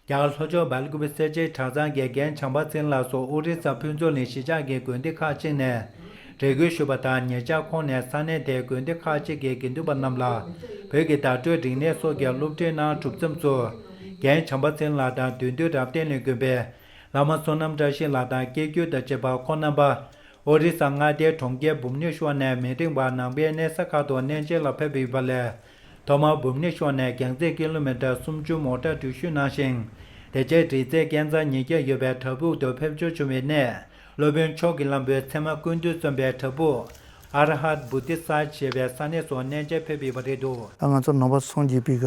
རྒྱ་གར་ལྷོ་ཕྱོགས་བལ་གོ་བའི་སེར་བྱེས་གྲྭ་ཚང་དགེ་རྒན་བྱམས་པ་སེང་ལགས་སོགས་དབུས་རིག་གསར་ཕུན་ཚོགས་ནས་གཞིས་ཆགས་ཀྱི་དགོན་སྡེ་ཁག་གཅིག་ནས་རེ་སྐུལ་ཞུས་པ་དང་ཉེ་ཆར་ཁོང་ནས་ས་གནས་དེའི་དགོན་སྡེ་ཁག་གཅིག་གི་དགེ་འདུན་པ་རྣམས་ལ་བོད་ཀྱི་བརྡ་སྤྲོད་རིག་གནས་སོགས་ཀྱི་སློབ་ཁྲིད་གནང་གྲུབ་མཚམས་སུ། རྒན་བྱམས་པ་སེང་ལགས་དང་དུས་འདུལ་རབ་བརྟན་ལས་འགུལ་བའི་བླ་མ་བསོད་ནམས་བཀྲ་ཤིས་ལགས་དང་སྐྱེ་རྒྱུད་དང་བཅས་པ་ཁོང་རྣམ་པ་ཨོ་རི་ས་མངའ་སྡེའི་གྲོང་ཁྱེར་འབུམ་ཉི་ཤོ་ནས་མི་རིང་བར་ནང་པའི་གནས་ས་ཁག་ཏུ་གནས་མཇལ་ལ་ཕེབས་ཡོད་པ་ལས་ཐོག་མར་བུམ་ནི་ཤོར་ནས་གྱང་རྩེག་གི་ཀླུ་མེ་ཏྲ་སུམ་ཅུ་མོ་ཏྲ་འགྲུལ་བཞུད་གནང་ཞིང། དེ་རྗེས་བྲིས་རྩེ་སྐལ་བཟང་ཉིས་བརྒྱ་ཡོད་པའི་བྲག་ཕུག་ཏུ་ཕེབས་འབྱོར་བྱུང་བའི་གནས། སློབ་དཔོན་མཆོག་གི་བླང་བོའི་མཚན་མ་ཀུན་འདུས་བརྩོན་པའི་བྲག་ཕུག། Arahat Bodhisattva། ཞེས་པའི་ས་གནས་སུ་གནས་མཇལ་ཕེབས་ཡོད་པ་རེད་འདུག། ང་ཚོ་ནང་པ་སོང་རྗེས་པིར་ག་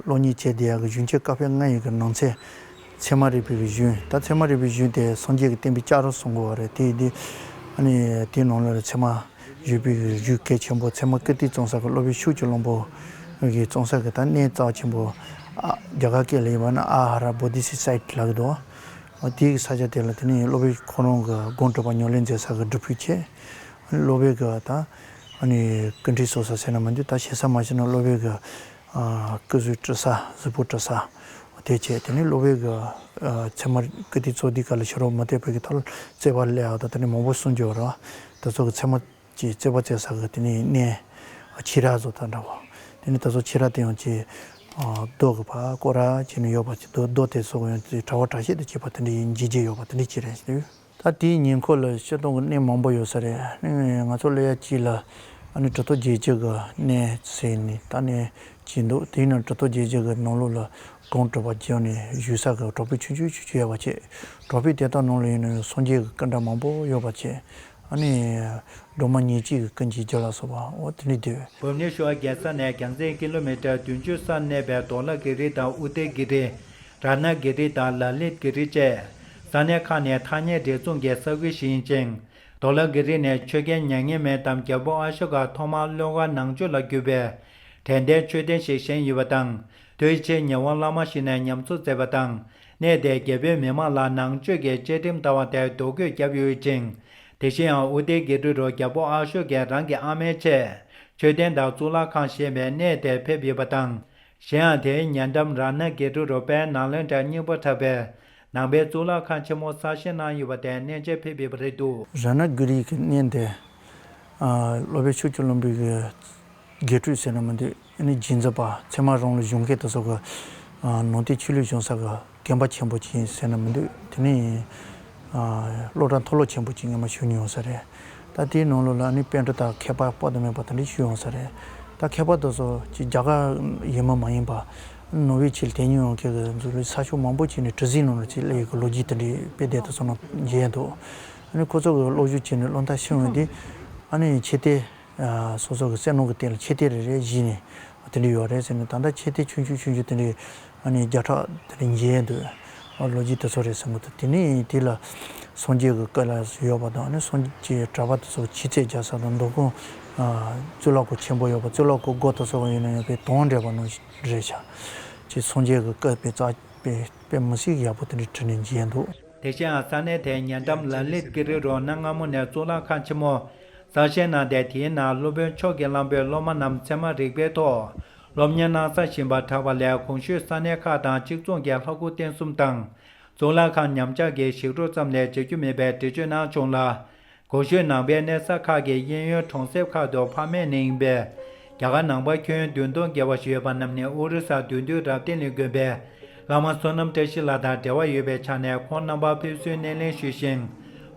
ལོ་གཉིས་བྱས་དེ་ཡག་གི་གཞོན་སྐྱེས་སྐབས་ཕེབས་ལྔ་ཡོད་ཀྱི་ནང་ཚན། ཚད་མ་རིག་པའི་རིག་གཞུང་ད་ཚད་མ་རིག་པའི་གཞུང་དེ་སངས་རྒྱས་ཀྱི་བསྟན་པའི་ལྕགས་རོ་བཟུང་དགོས་བ་རེད་དེ་དེ་དེའི་ནང་ལ་ཚད་མ་རིག་པའི་རིག་གཞུང་གལ་ཆེན་པོ་ཚད་མ་ཀིརྟི་གཙང་སར་གྱི་སློབ་དཔོན་ཤུགས་ཀྱི་བློན་པོ་གིས་གཙང་སར་གྱི་ད་གནས་གཙགས་ཆེན་པོ་རྒྱ་གར་སྐད་ལ་ཡིན་པ་ན་ཨ་ཧ་ར་བོ་དྷི་སི་སེད་ལགས་ཀྱི་འདུག་དེའི་ས་ཆ་དེ་ལ་དེ་ནས་སློབ་དཔོན་ཁོང་རང་གི་དགོངས་སྤྲོ་པ་ཉོ་ལེན་མཛད་ས་གི་སྒྲུབ་ཕུག་ཆེ་སློབ་དཔོན་གྱི་ད་ཀིརྟི་སོགས་ས་ཟེར་ན་མ་འདུག་ད་བྱེད་ས་མ་བྱེད་ན་སློབ་དཔོན་གྱི་སྐུ་གཟུགས་བཀྲུ་ས་གཟུགས་པོ་བཀྲུ་ས། དེ་བྱས་དེ་ནས་གློ་བའི་གི། ཚེར་མ་ཀིརྟི་གཙོ་འདི་ཀ་ལ་ཕྱི་རོལ་མུ་སྟེགས་བོད་ཀྱི་ཐོག་ལ་བརྩེགས་པ་ལས་དེ་ནས་མང་པོ་གསུངས་རྒྱུ་བ་རོ། དེ་ཚོ་གི་ཚེར་མ་ཀྱི་བརྩེགས་པ་བརྩེགས་ས་གི་དེ་ནས་གནས། ཕྱི་ར་གཟུགས་དང་འདྲ་བ། དེ་ནས་དེ་ཚོ་ཕྱི་ར་དེ་ཡང་ཅི། རྡོ་གི་བ་ཀོ་ར་བྱས་ནས་ཡོད་པ་ཅི་རྡོ་དེ་ཚོ་གི་ཡང་ཕྲ་བ་ཕྲ་ཤེས་དུ་བྱས་པ་དེ་འདྲ་ཡི་འཇིགས་བྱེད་ཡོད་པ་དེ་འདྲ་ཅི་རེད་ཟེར་དུས། ད་ལྟའི་ཉེ་འཁོར་ལ་ཆེ་མཐོང་གི་གནས་མང་པོ་ཡོད་ས་རེད། ང་ཚོ་སླེ་ཡ་སྐྱིད་ལ་ཨ་ནི་གྲུ་ཐོ་རྒྱལ་སྤྱི་གི་གནས་ཟེར་ནས་ད་ནས་བྱས་འདུག་དེས་ན་གྲུ་ཐོ་རྒྱལ་སྤྱི་གི་ནང་ལུགས་ལ་དགོངས་སྤྲོ་བ་རྒྱབ་ནས་བཞུད་ས་གི་གྲོགས་པོའི་ཆུ་ཆུ་ཆུ་ཆུ་ཡ་བ་བྱེད་གྲོགས་པོའི་དེ་དག་ནང་ལ་ཡོད་ན་སངས་རྒྱས་ཀྱི་སྐུ་འདྲ་མང་པོ་ཡོད་པ་བྱེད་ཨ་ནི་སྒྲོལ་མ་ཉིན་གཅིག་གི་ཀུན་གྱི་རྒྱུ་ལ་སོགས་པ་འོ་དེ་འདྲའི་དུས། བོད་མི་ཤོག་རྒྱལ་ས་ནས་གྱང་ཚད་ཀི་ལོ་མི་ཏྲར་བདུན་ཅུ་སར་གནས་པའི་དོག་ལ་ཀི་རི་དང་ཨུ་ཏེ་ཀི་རི། དྲ་གནས་བརྒལ་རིས་དང་ལག་ལེན་བརྒལ་རིས་བཅས། ས་གནས་ཁག་ནས་ཐ་སྙད་སྒྲིག་འཛུགས་ཀྱི་ས་ཁུལ་ཞིག་ཡིན་ཅིང། དོ་ལ་བརྒལ་རིས་ནས་ཆོས་རྒྱལ་མྱ་ངན་མེད་དམ་རྒྱལ་པོ་ཨ་ཤོ་ཀ་ཐོག་མར་བློན་ཁ་ནང་ཆོས་ལ་བརྒྱུད་པའི། དད་ལྡན་ཆོས་ལྡན་ཞིག་བཞེངས་ཡོད་པ་དང་དུས་ཕྱིས་ཉི་ཧོང་བླ་མ་ཞིག་ནས་ཉམས་གསོ་མཛད་པ་དང་གནས་དེའི་རྒྱལ་པོའི་མི་མང་ལ་ནང་ཆོས་ཀྱི་བཅའ་ཁྲིམས་ལྟ་བ་དེར་རྡོ་བརྐོས་བརྒྱབ་ཡོད་ཅིང། དེ་བཞིན་ཡང་ཨུ་ཏེ་དགེ་སྤྲུལ་རུ་རྒྱལ་པོ་ཨ་ཤོ་ཀས་རང་གི་ཨ་མའི་ཆེད་ཆོས་ལྡན་དག་གཙུག་ལག་ཁང་ཞེས་པའི་གནས་དེར་ཕེབས་ཡོད་པ་དང་གཞན་ཡང་དེའི་ཉེ་འགྲམ་རང་སྣེ་དགེ་ཕྲུག་རུ་པའི་ནང་ལོན་གྲྭའི་སྙིང་པོ་འཁྲབ་པའི་ནང་པའི་གཙུག་ལག་ཁང་ཆེན་མོ་གསར་བཞེངས་གནང་ཡོད་པ་དེ་གནས་མཇལ་ཕེབས་ཡོད་པ་རེད་འདུག། ར་ན་གུ་རིའི་གནས་འདི། ལོ་པའི་ཆུ་སྐྱོར་བློན་པོའི་དགེ་ཕྲུག་ཟེར་ན་མི་འདུག་ཨ་ནི་སྦྱིན་མཛད་པ་ཚད་མ་རང་ལོ་གཞུང་སྐད་དུ་སོགས་ཀྱི་ནང་བསྟན་ཆོས་ལུགས་གཞུང་ས་ཀྱི་རྒན་པ་ཆེན་པོ་གཅིག་ཡིན་ཟེར་ན་མི་འདུག་དེ་ནི་ཡིན། སློབ་གྲྭ་མཐོ་སློབ་ཆེན་པོ་གཅིག་ངས་མ་ཞུ་མྱོང་ས་རེད། ད་དེའི་ནང་ལོགས་ལ་ཨ་ནི་དཔལ་འབྲུག་དང་ཁྱད་པར་དཔའ་དང་མེད་པ་དེ་འདྲ་ཞུ་ཡོང་ས་རེད། ད་ཁྱད་པར་དུ་སོ་གཅིག་རྒྱ་གར་ཡིན་མ་མ་ཡིན་པ། ནོར་བྷེལ་ཆེད་དེ་ཉིད་ཡོང་ཁེལ་གི་འཛུགས་ལུས་ཚགས་ཤོག་མང་པོ་བྱས་ནས་གྲུ་གཟིངས་ནང་ལ་ཆེད་གླེང་ཡོད་གི་ལོ་རྒྱུས་དེ་འདྲའི་དཔེ་དེབ་དུ་སོང་ན་མཇལ་ཡས་འདུག། ཨ་ནི་ཁོ་ཚོ་གི་གློག་ཞུ་བྱས་ནས་བློ་མཐའ་ཕྱིན་འོན་ཏེ། ཨ་ནི་ཆེ་སྟེ། སོ་སོ་གི་སེམས་ནང་གི་རྟེན་ལ་ཆེ་རྟེན་རེ་རེ་གཞི་ནས་དེ་འདྲ་ཡོད་རེད་ཟེར་ནས་ད་ལྟ་ཆེ་རྟེན་ཆུང་ཆུང་ཆུང་ཆུང་དེ་འདྲའི་བརྒྱ་ཕྲག་དེ་འདྲ་འགྱེལ་འདོད་ལོ་རྒྱུས་དེ་ཚོ་རེད་ཟེར་མ་ཐུབ་དེ་ནས་དེ་ལ་སངས་རྒྱས་ཀྱི་བཀའ་ལ་ཡོད་པ་དང་སངས་རྒྱས་གྲྭ་པ་དེ་ཚོ་ཕྱི་ཚད་རྒྱ་བཟའ་དང་མདོ་དཔོན་གཙུག་ལག་སྐུ་ཆེན་པོ་ཡོད་པ་གཙུག་ལག་སྐུ་སྒོ་དང་སོགས་ཡོད་ན་ཡོད་པའི་དོན་འགྲེལ་པ་ནོ་རེད་བྱ། ཅེས་སངས་རྒྱས་ཀྱི་བཀའ་དཔེ་རྩ་དཔེ་མི་སྲིད་ཡག་པོ་དེ་འདྲ་བྲིས་ནས་འགྱེལ་འདུག། དེ་བཞིན་ཡང་ས་གནས་དེའི་ཉེ་འགྲམ་ལ་ལི་ཀི་རི་རོ་ན་སྔ་མོ་ནས་གཙུག་ལག་ཁང་ཆེན་མོ་གསར་བཞེངས་གནང་སྟེ་དེའི་ནང་སློབ་དཔོན་མཆོག་གིས་གླང་པོའི་སློབ་མ་རྣམས་ཚད་མ་རིག་པའི་ཐོག་སློབ་གཉེར་གནང་ས་བཞིན་པར་གྲགས་པ་ལས་གོང་ཞུས་ས་གནས་ཁག་དང་གཅིག་མཚུངས་ཀྱི་ལྷ་སྐུ་རྟེན་གསུམ་དང། གཙུག་ལག་ཁང་ཉམས་ཆག་གིས་ཞིག་འགྲོ་ཙམ་ལས་བྱེད་རྒྱུ་མེད་པའི་འགྲེལ་བརྗོད་གནང་བྱུང་ལ། གོང་ཞུས་ནང་པའི་གནས་ས་ཁག་གི་གཡས་གཡོན་གྲོང་གསེབ་ཁག་ཏུ་ཕ་མེས་ནི་ཡིན་པས། རྒྱ་གར་ནང་པར་ཁྱོན་བདུན་སྟོང་བརྒལ་བ་ཞིག་ཡོད་པ་རྣམས་ནི་ཨོ་རི་ས་དུས་འདུལ་རབ་བརྟན་གླིང་དགོན་པའི་བླ་མ་བསོད་ནམས་བཀྲ་ཤིས་ལགས་དང་འབྲེལ་བ་ཡོད་པའི་ཆ་ནས་ཁོང་རྣམ་པར་ཕེབས་བསུའི་སྣེ་ལེན་ཞུས་ཤིང།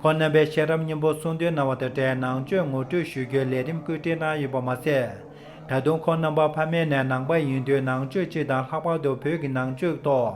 ཁོང་རྣམ་པས་ཤེས་རབ་སྙིང་པོ་གསུང་འདོན་གནང་བ་དང་འབྲེལ་ནང་ཆོས་ངོ་སྤྲོད་ཞུ་རྒྱུའི་ལས་རིམ་བཀོད་སྒྲིག་གནང་ཡོད་པ་མ་ཟད། ད་དུང་ཁོང་རྣམ་པ་ཕ་མེས་ནས་ནང་པ་ཡིན་དུས་ནང་ཆོས་སྤྱི་དང་ལྷག་པར་དུ་བོད་ཀྱི་ནང་ཆོས་ཐོག་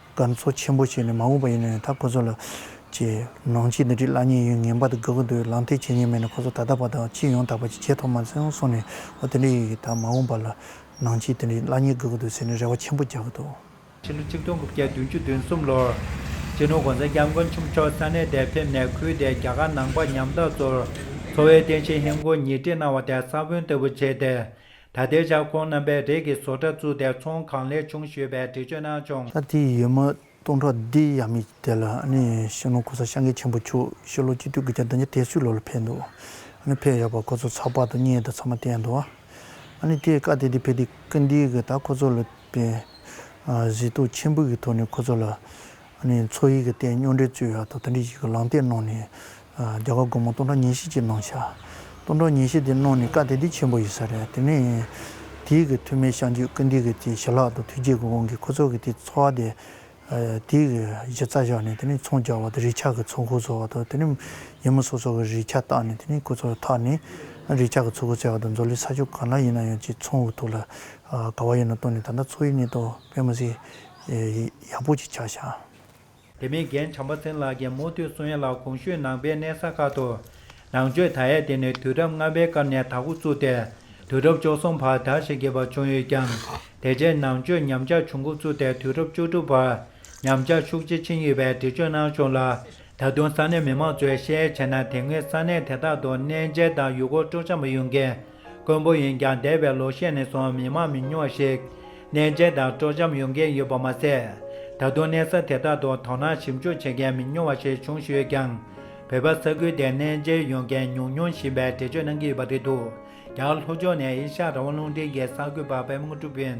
དཀར་མཚོ་ཆེན་པོ་བྱས་ནས་མ་འོངས་པ་ཡིན་ནའང་ད་ཁོ་ཚོ་ལ། ཅེས། ནང་ཆེས་འདི་འདྲའི་བླ་གཉན་ཡོད་ངན་པ་དང་དགའ་གུ་འདུག་ལང་སྟེ་བྱས་ཉེས་མེད་ནས་ཁོ་ཚོ་ད་ལྟ་བར་དང་ཕྱིས་ཡོང་ཐག་པ་ཅིག་བྱས་ཐོག་མར་སེང་སོང་ནས་འོ་དེ་འདྲ་ཡོད་ཀྱི་ད་མ་འོངས་པ་ལ། ནང་ཆེས་དེ་འདྲའི་བླ་གཉན་དགའ་གུ་འདུག་ཟེར་ནས་རེ་བ་ཆེན་པོ་རྒྱག་གི་འདུག། ཕྱི་ལོ་ཆིག་སྟོང་དགུ་བརྒྱ་བདུན་ཅུ་དོན་གསུམ་ལོར། རྗེ་ནོར་གོང་ས་སྐྱབས་མགོན་ཆུང་མཆོག་ས་གནས་དེར་ཕེབས་ནས་ཁུལ་དེའི་རྒྱ་གར་ནང་པ་ཉམ་ཐག་ཚོར། འཚོ་བའི་རྟེན་གཞི་ཧིན་སྒོར་ཉིས་ཁྲི་གནང་བ་དེ་ས་བོན་ལྟ་བུ་བྱས་ཏེ། ད་ལྟའི་ཆར་ཁོང་རྣམ་པས་རས་ཀྱི་བཟོ་གྲྭ་བཙུགས་ཏེ་ཚོང་གང་ལེགས་བྱུང་ཞེས་པའི་འགྲེལ་བརྗོད་གནང་བྱུང། ཤ་ཏི་ཡི་མ་སྟོང་ཕྲག་འདི་ཡ་མི་དེ་ལ་ཤིང་ལོ་ཁོ་ས་ཤ་འགས་ཆེན་པོ་བྱུག་ཤིང་ལོ་སྤྱི་འཐུས་དགུ་བརྒྱ་བདུན་བརྒྱ་དེ་སུས་ལོ་ལ་ཕེབས་འདུག་ཕེབས་ཡོད་པ་ཁོ་ཚོ་ཚགས་པར་དུ་བརྙན་དུ་ཚང་མ་བལྟས་འདུག་དེས་བཀའ་དེ་དེ་ཕེབས་དུས་བཀའ་འདིའི་གིས་ད་ཁོ་ཚོ་ལ་བལྟས། གཟི་ཐུགས་ཆེན་པོའི་གི་ཐོག་ནས་ཁོ་ཚོ་ལ་མཚོ་ཡིག་གི་སྟེང་སྨྱོ་འདྲའི་རྩོད་ཡ་དང་དེ་འདྲའི་ཞིག་གི་ལང་སྟེགས་གནང་ནས། རྒྱ་གར་སྒོར་མོ་སྟོང་ཕྲག་ཉེར་བཞི་ཅིག་གནང་བྱ། སྟོང་ཕྲག་ཉེར་བཞི་དེ་གནང་ནས་བཀའ་དེ་དེ་ཆེན་པོ་ཡིན་ས་རེད་དེ་ནས། དེའི་གི་ཐུ་མེད་ཤངས་ཆོས་ཀུན་འདི་གི་དེ་ཞི་ལྷག་དང་ཐུགས་རྗེ་གི་དབང་གིས་ཁོ་ཚོ་གི་དེ་འཚོ་བ་དེ། དེའི་གི་གཞི་རྩ་བཞག་ནས་དེ་ནས་ཚོང་རྒྱག་བ་དང་རིག་ཆགས་གི་ཚོགས་འཁོར་བཟོ་བ་དང་དེ་ནས། ཡིན་མོ་སོ་སོ་གི་རིག་ཆགས་བཏགས་ནས་དེ་ནས་ཁོ་ཚོ་ལ་ཐག་ནས། རིག་ཆགས་གི་ཚོགས་འཁོར་བཙལ་བ་དང་མཛོ་ལེ་ས་ཕྱོགས་གང་ན་ཡིན་ན་ཡང་ཅིག་ཚོང་གི་ཐུགས་ལ་དགའ་བ་ཡོད་ན་བཏོན་ནས་ད་ལྟ་མཚོ་ཡིག་ནས་དང་བོད་མི་སེར་ཡག་པོ་ཅིག་བྱ་ཞག། དེ་མིན་རྒན་བྱམས་པ་མཚན་ལགས་ཀྱིས་མུ་མཐུད་སུན་ཡེ་ལགས་གོང་ཞུས་གནང་པའི་གནས་ས་ཁག་ཏུ། ནང་ཆོས་དར་ཡས་དེ་ནི་དུས་རབས་ལྔ་པའི་སྐབས་ནས་དར་ཁུག་བཙུགས་ཏེ། དུས་རབས་བཅུ་གསུམ་བར་དར་ཞེས་བརྒྱབ་པ་བྱུང་ཡོད་ཀྱང། དེ་རྗེས་ནང་ཆོས་ཉམས་ཆག་བྱུང་འགོ་བཙུགས་ཏེ་དུས་རབས་བཅུ་དྲུག་བར་ཉམས་ཆག་ཤུགས་ཆེ་ཕྱིན་ཡོད་པའི་འགྲེལ་བརྗོད་གནང་བྱུང་ལ། ད་དུང་ས་གནས་མི་མང་ཚོས་ཤེས་ཡས་བྱས་ན་དེ་སྔའི་ས་གནས་དེ་དག་ཏུ་གནས་མཇལ་དང་ཡུལ་སྐོར་སྤྲོ་འཆམ་པ་ཡོད་མཁན། མགོན་པོ་ཡིན་ཀྱང་འདས་པའི་ལོ་ཤས་ནས་བཟུང་མི་མང་མི་ཉུང་ཞིག་ནད་མཇལ་དང་དཀྲོག་འཇམ་ཡོང་གིན་ཡོད་པ་མ་ཟད། ད་དུང་གནས་ས་དེ་དག་ཏུ་དོ་སྣང་ཞིབ་འཇུག་བྱེད་མཁན་མི་ཉུང་བ་ཞིག་བྱུང་ཞུས་ཀྱང། བོད་པ་ས་ཁུལ་དེར་གནས་མཇལ་ཡོང་མཁན་ཉུང་ཉུང་བཞིན་པའི་འགྲེལ་བརྗོད་གནང་གི་ཡོད་པ་རེད་འདུག་ཀྱང་ལྷོ་ཕྱོགས་ནས་ཨེ་ཤ་ར་བ་རླུང་འཕྲིན་གྱི་གསར་འགོད་པ་པད་མོ་ཀྲུའུ་པིན།